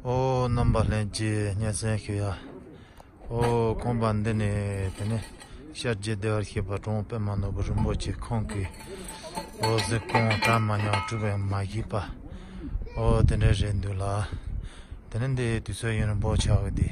ཨོ་རྣམ་པ་ལྷན་སྐྱེས་སྙན་གསན་ཞུ་ཡ། ཨོ་ཁོང་པ་འདི་ནི་དེ་ནས་ཤར་རྒྱལ་བདེ་བར་གཤེགས་པ་ཁྲོ་བོ་པདྨ་ནོར་བུ་རིན་པོ་ཆེ་ཁོང་གིས་ཨོ་གཟིགས་སྐོང་གྲ་མ་ཉམས་གྲུབ་པའི་མ་གཞི་པ། ཨོ་དེ་འདྲ་རེད་འདུག་ལགས། དེ་ནི་འདི་དུས་ཚོད་ཡུན་རིང་པོ་ཆགས་འདུག།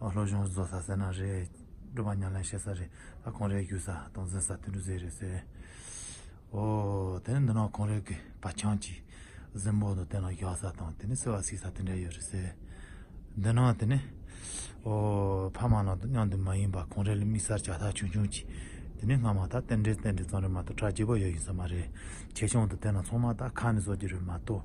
ལྷོ་གཞུང་རྫོང་ས་གསལ་ན་རེད། སྒྲོལ་མ་ཉམས་ལེན་བཤད་ས་རེད། ཨ་གོང་རེ་རྒྱུ་ས་དང་འཛིན་ས་དེ་འདྲུ་ཟེར་རེད་ཟེར། འོ། དེ་ནི་འདི་ནང་གོང་རེ་གི་བ་ཆང་གི་གཟིམ་འོག་ནས་དེ་ནང་བཞག་ས་དང་དེ་ནི་སེ་བ་བསིག་ས་དེ་འདྲ་ཡོད་རེད་ཟེར། འདི་ནང་དེ་ནི། འོ། ཕ་མ་ནང་དུ་གཉའ་འདུན་མ་ཡིན་པ་གོང་རེ་ལ་དམིགས་སར་བྱ་ཐག་ཆུང་ཆུང་གི་དེ་ནི་སྔ་མ་ད་རྟེན་འབྲེལ་རྟེན་འབྲེལ་ཙམ་རེད་མ་གཏོགས་གྲ་རྒྱས་པོ་ཡོད་ཡིན་ས་མ་རེད། ཆེ་ཆུང་དུ་དེ་ནང་ཚང་མ་ད་ཁ་ནས་བཟོ་རྒྱུ་རེད་མ་གཏོགས།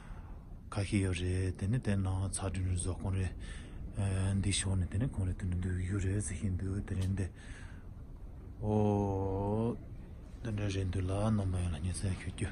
ཁ་ཤས་ཡོད་རེད་དེ་ནས་དེ་ནང་ཚགས་དྲི་ནས་བཟོ་ཁོང་རེད། འདི་ཤོར་ནས་དེ་ནས་ཁོང་རེད་དེ་ནས་འདི་ཡོད་རེད་ཟེར་གྱིན་འདུག་དེ་རེད་འདི། འོ། དེ་འདྲ་རེད་འདུག་ལགས་ནོར་མ་ཡོང་ལ་སྙན་གསན་ཞུ་རྒྱུ།